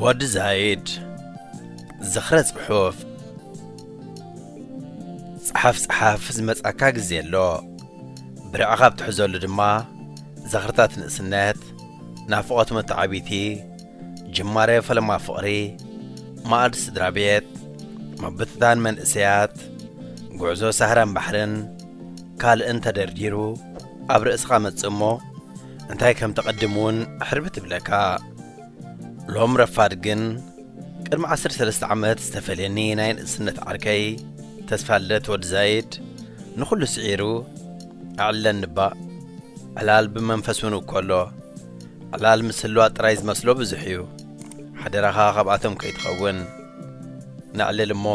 ወዲ ዛይድ ዝኽረ ጽሑፍ ጽሓፍ ጽሓፍ ዝመጻካ ግዜ ኣሎ ብርዕ ካብ ትሕዘሉ ድማ ዘኽርታት ንእስነት ናፍቖት መተዓቢቲ ጅማረ ፈለማ ፍቕሪ፣ ማእድ ስድራቤት፣ ምብትታን መንእሰያት፣ ጉዕዞ ሳህራን ባሕርን ካልእን ተደርዲሩ ኣብ ርእስኻ መጽእ እሞ እንታይ ከም ተቐድም እውን ሕርብት ይብለካ። ሎም ረፋድ ግን ቅድሚ ዓሰርተ ሰለስተ ዓመት ዝተፈልየኒ ናይ ንእስነት ዓርከይ ተስፋልደት ወዲ ዛይድ ንኹሉ ስዒሩ ኣዕለኒ እባ። ዕላል ብመንፈስ እውን እኮ ኣሎ። ዕላል ምስሏ ጥራይ ዝመስሎ ብዙሕ እዩ ሓደራኻ ካብኣቶም ከይትኸውን ነዕልል እሞ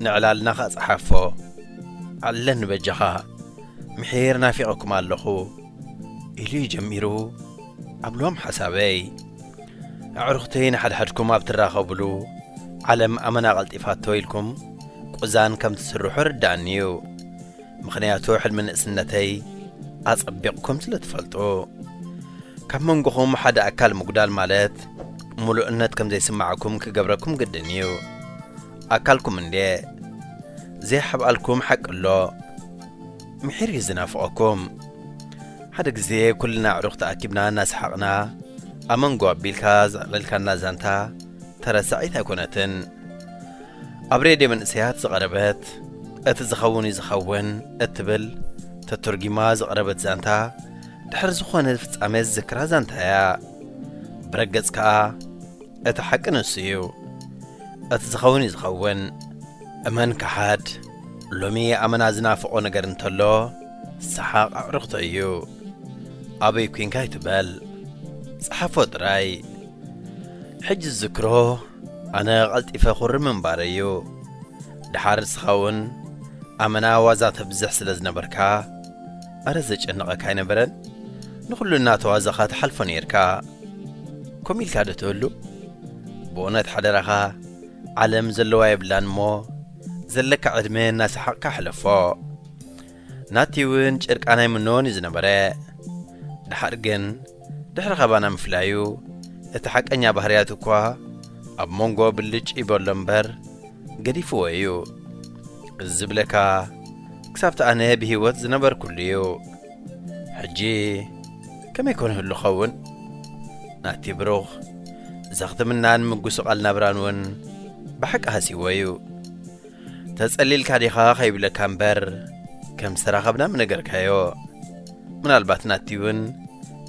ንዕላልና ከኣ ጸሓፎ ኣዕልለኒ በጃኻ ምሒር ናፊቐኩም ኣለኹ ኢሉ እዩ ጀሚሩ ኣብሎም ሓሳበይ ኣዕሩኽተይ ንሓድሕድኩም ኣብ ትራኸብሉ ዓለም ኣመና ቀልጢፋቶ ኢልኩም ቁዛን ከም ትስርሑ ይርድኣኒ እዩ ምኽንያቱ ሕልሚ ንእስነተይ ኣጸቢቕኩም ስለ ትፈልጡ። ካብ መንጎኹም ሓደ ኣካል ምጉዳል ማለት ምሉእነት ከም ዘይስማዕኩም ክገብረኩም ግድን እዩ። ኣካልኩም እንድየ ዘይሓብኣልኩም ሓቂ ኣሎ። ምሒር እዩ ዝናፍቐኩም። ሓደ ግዜ ኩልና ኣዕሩኽ ተኣኪብና እናሰሓቕና ኣመንጎ ኣቢልካ ዘዕለልካና ዛንታ ተረሳዒት ኣይኮነትን። ኣብ ሬድዮ መንእሰያት ዝቐረበት እቲ ዝኸውን እዩ ዝኸውን እትብል ተተርጒማ ዝቐረበት ዛንታ ድሕሪ ዝኾነ ፍጻሜ ዝዝክራ ዛንታ እያ። ብረገጽ ከኣ እቲ ሓቂ ንሱ እዩ። እቲ ዝኸውን እዩ ዝኸውን። እመን ከሓድ ሎሚ ኣመና ዝናፍቖ ነገር እንተሎ ሰሓቕ ኣዕርኽቶ እዩ። ኣበይ ኲንካ ኣይትበል። ጸሓፎ ጥራይ። ሕጂ ዝዝክሮ ኣነ ቀልጢፈ ኩሪ ምንባረይ እዩ ድሓር ንስኻ ውን ኣመና ዋዛ ተብዝሕ ስለ ዝነበርካ ኣረ ዘጨንቐካ ኣይነበረን ንኹሉ እናተዋዛኻ ትሓልፎ ኔርካ ከምኡ ኢልካ ዶ ትህሉ ብእውነት ሓደራኻ ዓለም ዘለዋ የብላን እሞ ዘለካ ዕድመ እናሰሓቕካ ሕለፎ ናቲ እውን ጭርቃን ኣይምነዎን እዩ ዝነበረ። ደሓር ግን ድሕሪ ካባና ምፍላዩ እቲ ሓቀኛ ባህርያቱ እኳ ኣብ ሞንጎ ብልጭ ይበሎ እምበር ገዲፍዎ እዩ። እዚ ዝብለካ ክሳብቲ ኣነ ብህይወት ዝነበርኩሉ እዩ። ሕጂ ከመይ ኮን ይህሉ ክኸውን? ናቲ ብሩኽ እዛ ክትምናን ምጉስቓል ናብራን እውን ብሓቂ ሃስይዎ እዩ። ተጸሊልካ ዲኻ ከይብለካ እምበር ከም ዝተራኸብና ምነገርካዮ ምናልባት ናቲ እውን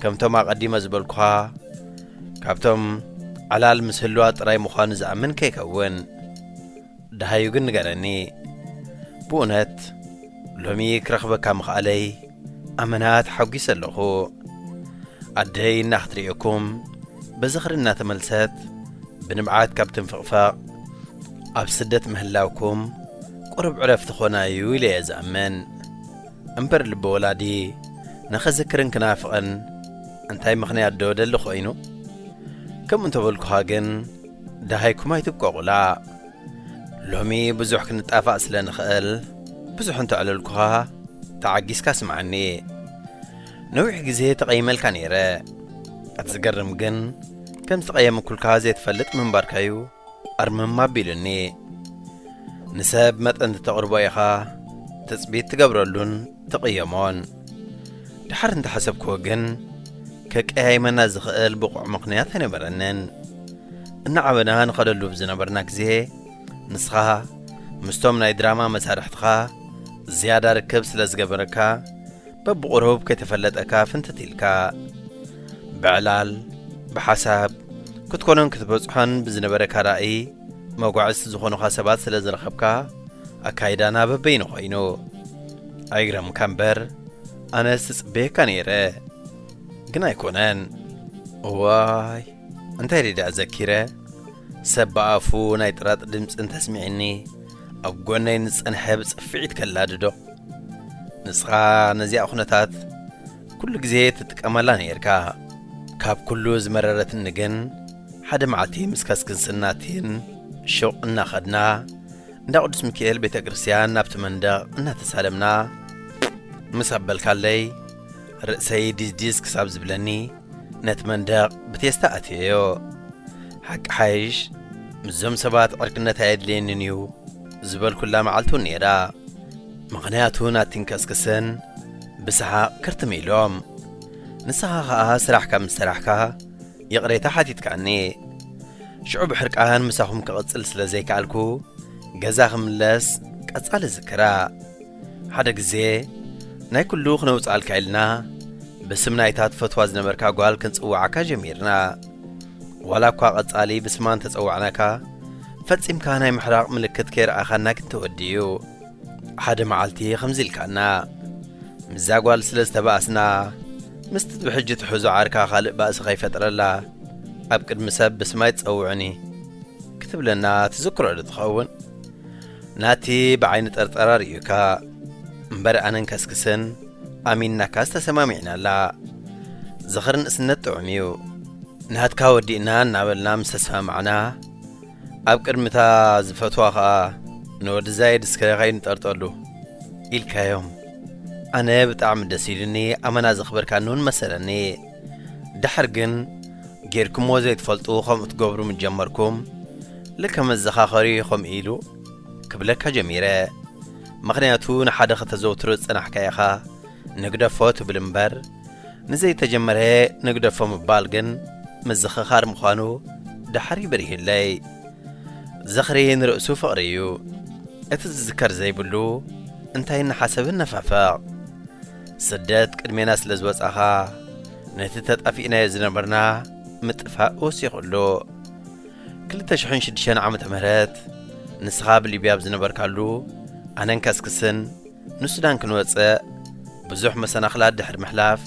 ከምቶም ኣቐዲመ ዝበልኩኻ ካብቶም ዓላል ምስ ህልዋ ጥራይ ምዃኑ ዝኣምን ከይከውን ደሃዩ ግን ንገረኒ ብእውነት ሎሚ ክረኽበካ ምኽኣለይ ኣመና ተሓጒሰ ኣለኹ ኣደይ እናክትርእየኩም ብዝኽሪ እናተመልሰት ብንብዓት ካብ ትንፍቕፈቕ ኣብ ስደት ምህላውኩም ቁርብ ዕረፍቲ ኾና እዩ ኢለ እየ ዝኣምን እምበር ልቢ ወላዲ ንኸዝክርን ክናፍቕን እንታይ ምኽንያት ዶ ደሊ ኮይኑ ከምኡ እንተበልኩኻ ግን ደሃይኩም ኣይትብቀቑላ ሎሚ ብዙሕ ክንጣፋእ ስለ ንኸእል ብዙሕ እንተዕለልኩኻ ተዓጊስካ ስምዓኒ። ነዊሕ ግዜ ተቐይመልካ ነይረ። እቲ ዝገርም ግን ከም ዝተቐየምኩልካ ዘይትፈልጥ ምንባርካዩ ኣርምም ኣቢሉኒ። ንሰብ መጠን እተቕርቦ ኢኻ ትጽቢት ትገብረሉን ተቐየሞን። ድሓር እንተ ሓሰብክዎ ግን፣ ከቀያይመና ዝኸእል ብቑዕ ምኽንያት ኣይነበረንን። እናዓበና ንኸደሉ ብ ዝነበርና ግዜ፣ ንስኻ ምስቶም ናይ ድራማ መሳርሕትኻ ዝያዳ ርክብ ስለ ዝገበረካ፣ በብቑሩብ ከይተፈለጠካ ፍንትት ኢልካ። ብዕላል፣ ብሓሳብ፣ ክትኮኖን ክትበጽሖን ብዝነበረካ ራእይ፣ መጓዕዝቲ ዝኾኑኻ ሰባት ስለ ዝረኸብካ ኣካይዳና በበይኑ ኮይኑ ኣይግረምካ እምበር ኣነስ ትጽበየካ ነይረ ግን ኣይኮነን እዋይ እንታይ ደይ ደኣ ዘኪረ ሰብ ብኣፉ ናይ ጥራጥ ድምፂ እንተስሚዕኒ ኣብ ጎነይ ንዝጸንሐ ብጽፍዒት ከላድዶ ንስኻ ነዚኣ ኩነታት ኩሉ ግዜ ትጥቀመላ ነይርካ ካብ ኩሉ ዝመረረትኒ ግን ሓደ መዓልቲ ምስ ከስክስን ናቲን ሹቕ እናኸድና እንዳ ቅዱስ ሚካኤል ቤተ ክርስቲያን ናብቲ መንደቕ እናተሳለምና ምስ ኣበልካለይ ርእሰይ ዲዝዲዝ ክሳብ ዝብለኒ ነቲ መንደቕ ብቴስታ ኣትየዮ ሓቂ ሓይሽ ምስዞም ሰባት ዕርክነት ኣየድልየንን እዩ ዝበልኩላ መዓልቲ እውን ነይራ ምኽንያቱ ናቲን ከስክስን ብሰሓቕ ክርትም ኢሎም። ንስኻ ኸኣ ስራሕካ ምስ ሰራሕካ ይቕሬታ ሓቲትካኒ። ሽዑ ብሕርቃን ምሳኹም ክቕጽል ስለ ዘይከኣልኩ ገዛ ክምለስ ቀጻሊ ዝክራ። ሓደ ግዜ ናይ ኩሉ ክነውጽኣልካ ኢልና ብስም ናይታ ትፈትዋ ዝነበርካ ጓል ክንጽውዓካ ጀሚርና። ዋላ እኳ ቀጻሊ ብስማ እንተ ጸዋዕናካ ፈጺምካ ናይ ምሕራቕ ምልክት ከይረኣኻና ግን ተወዲኡ። ሓደ መዓልቲ ከምዚ ኢልካና ምስዛ ጓል ስለ ዝተባእስና ምስቲ ብሕጂ ትሕዞ ዓርካ ካልእ ባእሲ ከይፈጥረላ ኣብ ቅድሚ ሰብ ብስማይ ትጸውዕኒ ክትብለና ትዝክሮ ዶ ትኸውን ናቲ ብዓይኒ ጠርጠራ ርእዩካ እምበር ኣነን ከስክስን ኣሚንናካ ዝተሰማሚዕናላ ዝኽሪ ንእስነት ጥዑም እዩ ናትካ ወዲእና እናበልና ምስ ተሰማማዕና ኣብ ቅድሚ እታ ዝፈትዋ ኸኣ ንወዲ ዛይድ እስከ ኸይድ ንጠርጠሉ ኢልካዮም ኣነ ብጣዕሚ ደስ ኢሉኒ ኣመና ዘኽበርካኒ እውን መሰለኒ ድሕር ግን ጌርኩምዎ ዘይትፈልጡ ከምኡ ትገብሩ ምስ ጀመርኩም ልከ መዘኻኸሪ ከምኡ ኢሉ ክብለካ ጀሚረ ምኽንያቱ ንሓደ ከተዘውትሮ ዝጸናሕካ ኢኻ ንግደፎ ትብል እምበር ንዘይተጀመረ ንግደፎ ምባል ግን ምዝኽኻር ምዃኑ ዳሕሪ በሪሁለይ። ዝኽሪ ንርእሱ ፍቕሪ እዩ። እቲ ዝዝከር ዘይብሉ እንታይ እናሓሰብ እነፋፈቕ። ስደት ቅድሜና ስለ ዝወጻኻ ነቲ ተጣፊእናዮ ዝነበርና ምጥፋእ ወሲኹሉ። ክልተ ሽሕን ሽዱሽተን ዓመተ ምህረት ንስኻ ኣብ ሊብያ ኣብ ዝነበርካሉ ኣነን ከስክስን ንሱዳን ክንወጽእ ብዙሕ መሰናኽላት ድሕሪ ምሕላፍ፣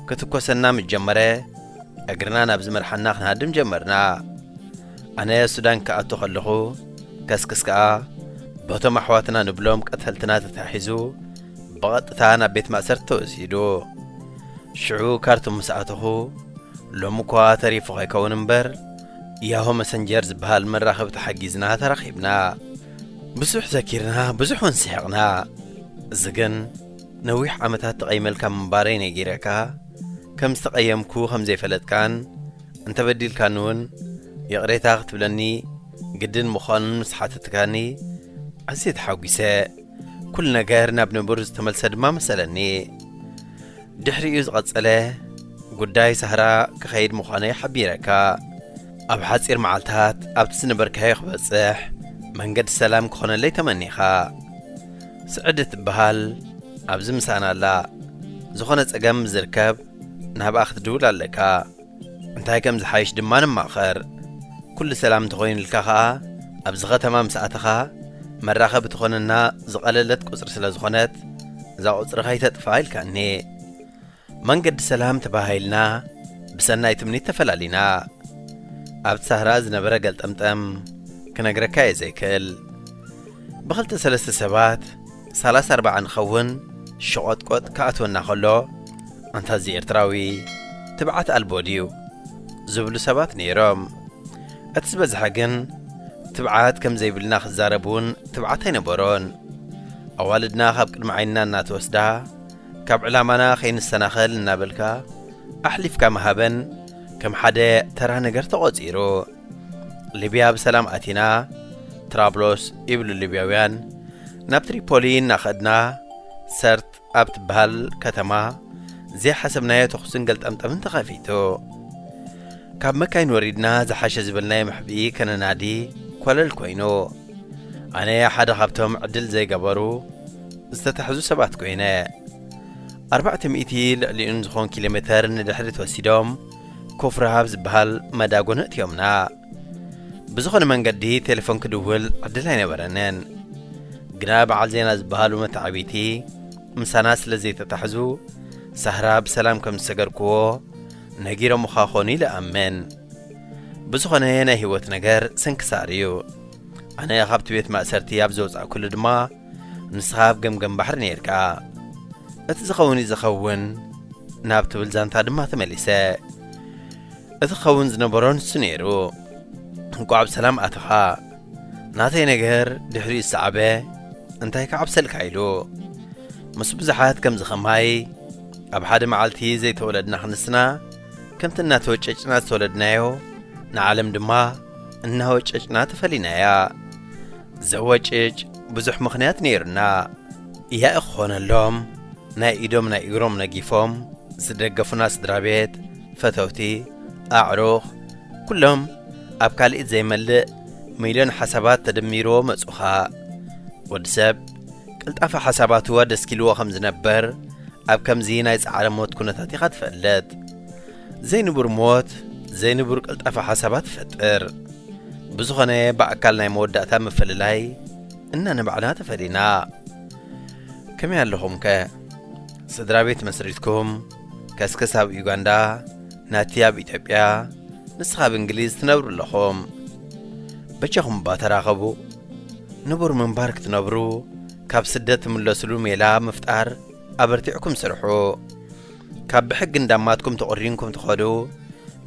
ክትኮሰና ምስ ጀመረ፣ እግርና ናብ ዝመርሓና ክንሃድም ጀመርና። ኣነ ሱዳን ክኣቱ ከለኹ፣ ከስክስ ከኣ በቶም ኣሕዋትና ንብሎም ቀተልትና ተታሒዙ ብቐጥታ ናብ ቤት ማእሰርቲ ተወሲዱ። ሽዑ ካርቱም ምስ ኣተኹ፣ ሎሚ እኳ ተሪፉ ከይከውን እምበር፣ ያሆ መሰንጀር ዝበሃል መራኸቢ ተሓጊዝና ተራኺብና። ብዙሕ ዘኪርና ብዙሕ ውን ስሕቕና እዚ ግን ነዊሕ ዓመታት ተቐይመልካ ምንባረይ ነጊረካ ከም ዝተቐየምኩ ከም ዘይፈለጥካን እንተበዲልካኒ ውን ይቕሬታ ክትብለኒ ግድን ምዃኑን ምስ ሓተትካኒ ኣዝየ ተሓጒሰ ኩሉ ነገር ናብ ንቡር ዝተመልሰ ድማ መሰለኒ ድሕሪኡ ዝቐጸለ ጉዳይ ሳህራ ክኸይድ ምዃነይ ሓቢረካ ኣብ ሓጺር መዓልታት ኣብቲ ዝነበርካዮ ክበጽሕ መንገዲ ሰላም ክኾነለይ ተመኒኻ። ስዕዲ ትበሃል ኣብዚ ምሳና ኣላ። ዝኾነ ጸገም ምስ ዝርከብ ናብኣ ክትድውል ኣለካ። እንታይ ከም ዝሓይሽ ድማ ንማኸር። ኩሉ ሰላም እንተኾይኑልካ ከኣ ኣብዚ ከተማ ምስ ኣተኻ መራኸቢ ትኾነና ዝቐለለት ቁጽሪ ስለ ዝኾነት እዛ ቁጽሪ ከይተጥፍኣ ኢልካኒ። መንገዲ ሰላም ተበሃሂልና ብሰናይ ትምኒት ተፈላሊና ኣብቲ ሳህራ ዝነበረ ገልጠምጠም ክነግረካ እየ ዘይክእል ብኽልተ ሰለስተ ሰባት ሳላስ ኣርባዓ ንኸውን ሸቖጥቆጥ ክኣትወና ከሎ ኣንታ እዚ ኤርትራዊ ትብዓት ኣልቦ ድዩ ዝብሉ ሰባት ነይሮም እቲ ዝበዝሐ ግን ትብዓት ከም ዘይብልና ክዛረብ እውን ትብዓት ኣይነበሮን ኣዋልድና ካብ ቅድሚ ዓይንና እናተወስዳ ካብ ዕላማና ከይንሰናኸል እናበልካ ኣሕሊፍካ ምሃበን ከም ሓደ ተራ ነገር ተቖጺሩ። ሊብያ ብሰላም ኣቲና፣ ትራብሎስ ይብሉ ሊብያውያን፣ ናብ ትሪፖሊ እናኸድና ሰርት ኣብ ትበሃል ከተማ ዘይሓሰብናዮ ተኹስን ገልጠምጠምን ተኸፊቱ። ካብ መካይን ወሪድና ዝሓሸ ዝበልናዮ መሕብኢ ከነናዲ ኮለል ኮይኑ። ኣነ ሓደ ካብቶም ዕድል ዘይገበሩ ዝተታሕዙ ሰባት ኮይነ። ኣርባዕተ ሚእቲ ልዕሊኡን ዝኾን ኪሎ ሜተር ንድሕሪት ወሲዶም ኮፍ ረሃብ ዝበሃል መዳጎን ኣእትዮምና። ብዝኾነ መንገዲ ቴሌፎን ክድውል ዕድል ኣይነበረንን። ግና በዓል ዜና ዝበሃሉ መተዓብይቲ ምሳና ስለ ዘይተታሕዙ ሳህራ ብሰላም ከም ዝሰገርክዎ ነጊሮምኻ ኾኑ ኢለ እኣምን። ብዝኾነ ናይ ህይወት ነገር ስንክሳር እዩ ኣነ ኻብቲ ቤት ማእሰርቲ ኣብ ዘውጻእኩሉ ድማ ንስኻ ኣብ ገምገም ባሕሪ ነይርካ እቲ ዝኸውን እዩ ዝኸውን ናብ ትብል ዛንታ ድማ ተመሊሰ እቲ ኸውን ዝነበሮ ንሱ ነይሩ እንቋዕ ብሰላም ኣተኻ ናተይ ነገር ድሕሪኡ ዝሰዓበ እንታይ ክዓብሰልካ ኢሉ ምስ ብዙሓት ከምዚ ኸማይ ኣብ ሓደ መዓልቲ ዘይተወለድና ክንስና ከምቲ እናተወጨጭና ዝተወለድናዮ ንዓለም ድማ እናወጨጭና ተፈሊናያ ዘወጭጭ ብዙሕ ምኽንያት ነይሩና ያኢ ክኾነሎም ናይ ኢዶም ናይ እግሮም ነጊፎም ዝደገፉና ስድራ ቤት ፈተውቲ ኣዕሩኽ ኩሎም ኣብ ካልኢት ዘይመልእ ሚልዮን ሓሳባት ተደሚርዎ መጹኻ ወዲ ሰብ ቅልጣፈ ሓሳባትዋ ደስኪልዎ ከም ዝነበር ኣብ ከምዚ ናይ ጻዕረ ሞት ኩነታት ኢኻ ትፈልጥ። ዘይንቡር ሞት ዘይንቡር ቅልጣፈ ሓሳባት ይፈጥር። ብዝኾነ ብኣካል ናይ መወዳእታ ምፍልላይ እና ንባዕልና ተፈሊና። ከመይ ኣለኹምከ? ስድራ ቤት መስሪትኩም? ከስክስ ኣብ ዩጋንዳ ናቲ ኣብ ኢትዮጵያ ንስኻ ኣብ እንግሊዝ ትነብሩ ኣለኹም በጃኹም እባ ተራኸቡ ንቡር ምንባር ክትነብሩ ካብ ስደት ትምለስሉ ሜላ ምፍጣር ኣበርቲዕኩም ስርሑ ካብ ብሕጊ እንዳማትኩም ተቖሪንኩም ትኸዱ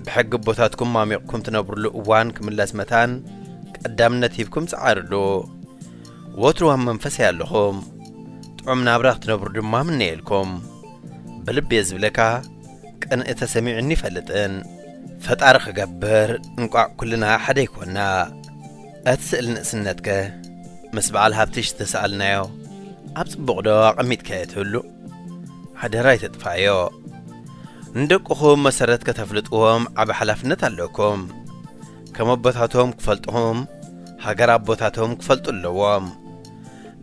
ብሕጊ ኣቦታትኩም ማሚቕኩም ትነብርሉ እዋን ክምለስ መታን ቀዳምነት ሂብኩም ጸዓርሉ ወትሩ ኣብ መንፈሰይ ኣለኹም ጥዑም ናብራ ክትነብሩ ድማ ምነየልኩም ብልቤ ዝብለካ ቅንኢ ተሰሚዑኒ ይፈልጥን ፈጣሪ ክገብር እንቋዕ ኩልና ሓደ ይኮና እቲ ስእሊ ንእስነት ከ ምስ በዓል ሃብትሽ ዝተሰኣልናዮ ኣብ ጽቡቕ ዶ ኣቐሚጥካዮ ትህሉ ሓደራ ኣይተጥፋዮ ንደቅኹም መሰረት ከተፍልጥዎም ዓቢ ሓላፍነት ኣለኩም ከም ኣቦታቶም ክፈልጥኹም ሃገር ኣቦታቶም ክፈልጡ ኣለዎም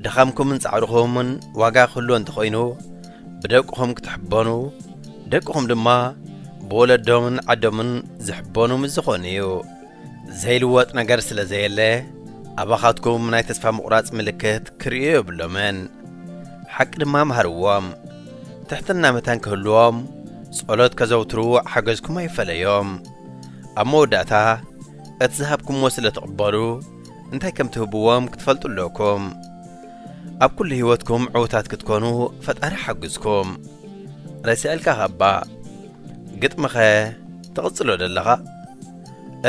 ድኻምኩምን ጻዕርኹምን ዋጋ ክህልዎ እንተኾይኑ ብደቅኹም ክትሕበኑ ደቅኹም ድማ ብወለዶምን ዓዶምን ዝሕበኑ ምስ ዝኾኑ እዩ። ዘይልወጥ ነገር ስለ ዘየለ ኣባኻትኩም ናይ ተስፋ ምቑራጽ ምልክት ክርእዩ የብሎምን። ሓቂ ድማ መሃርዎም። ትሕትና መታን ክህልዎም ጸሎት ከዘውትሩ ሓገዝኩም ኣይፈለዮም። ኣብ መወዳእታ እቲ ዝሃብኩምዎ ስለ ትቕበሉ እንታይ ከም ትህብዎም ክትፈልጡ ኣለኩም ኣብ ኩሉ ሂወትኩም ዕውታት ክትኮኑ ፈጣሪ ሓግዝኩም ረሲዐልካኻ እባ ግጥሚኸ ትቕጽሎ ዶ ኣለኻ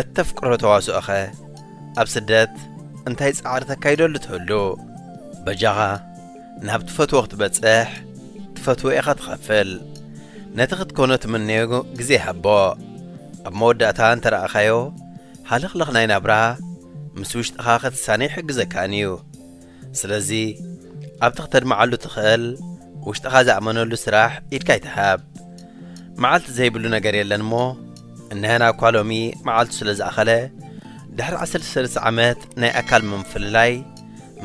እተፍቅሮ ተዋስኦኸ ኣብ ስደት እንታይ ጻዕሪ ተካይደሉ ትህሉ በጃኻ ናብ ትፈትዎ ክትበጽሕ ትፈትዎ ኢኻ ትኸፍል ነቲ ክትኮኖ ትምነዮ ግዜ ሃቦ ኣብ መወዳእታ እንተረኣኻዮ ሃለኽለኽ ናይ ናብራ ምስ ውሽጥኻ ክትሳነ ይሕግዘካን እዩ። ስለዚ ኣብቲ ክተድምዓሉ ትኽእል ውሽጥኻ ዝኣመነሉ ስራሕ ኢድካ ኣይትሃብ። መዓልቲ ዘይብሉ ነገር የለን እሞ እንሀና እኳ ሎሚ መዓልቱ ስለ ዝኣኸለ ድሕሪ ዓሰርተ ሰለስተ ዓመት ናይ ኣካል ምፍልላይ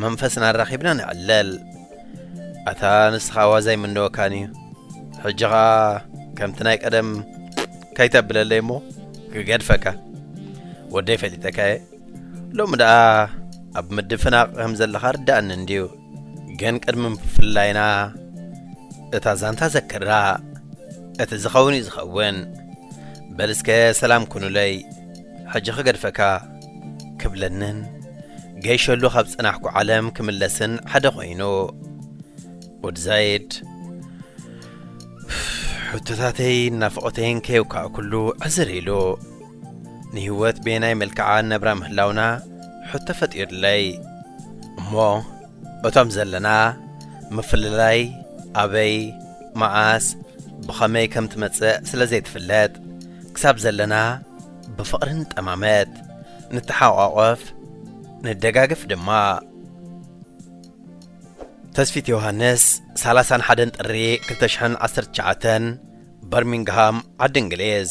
መንፈስና ኣራኺብና ንዕለል። ኣታ ንስኻ ዋዛ ኣይምነወካን እዩ ሕጂ ኸኣ ከምቲ ናይ ቀደም። ከይተብለለይ እሞ ክገድፈካ ወደይ ፈሊጠካ እየ ሎሚ ደኣ ኣብ ምድፍናቕ ከም ዘለኻ ርዳእኒ እንድዩ ግን ቅድሚ ምፍላይና እታ ዛንታ ዘክራ እቲ ዝኸውን እዩ ዝኸውን በልስከ ሰላም ኩኑለይ ሕጂ ክገድፈካ ክብለንን ገይሸሉ ካብ ጽናሕኩ ዓለም ክምለስን ሓደ ኮይኑ ወዲ ዛይድ ሕቶታተይን ናፍቖተይን ከየውካዕኩሉ ዕዝር ኢሉ፣ ንህይወት በየናይ መልክዓ ነብራ ምህላውና ሕቶ ፈጢሩለይ። እሞ እቶም ዘለና ምፍልላይ ኣበይ፣ መዓስ፣ ብኸመይ ከም ትመጽእ ስለ ዘይትፍለጥ፣ ክሳብ ዘለና ብፍቕሪ ንጠማመት፣ ንተሓቛቖፍ፣ ንደጋገፍ ድማ። ተስፊት ዮሃንስ ሰላሳን ሓደን ጥሪ ክልተ ሽሕን ዓሰርተ ትሽዓተን በርሚንግሃም ዓዲ እንግሊዝ።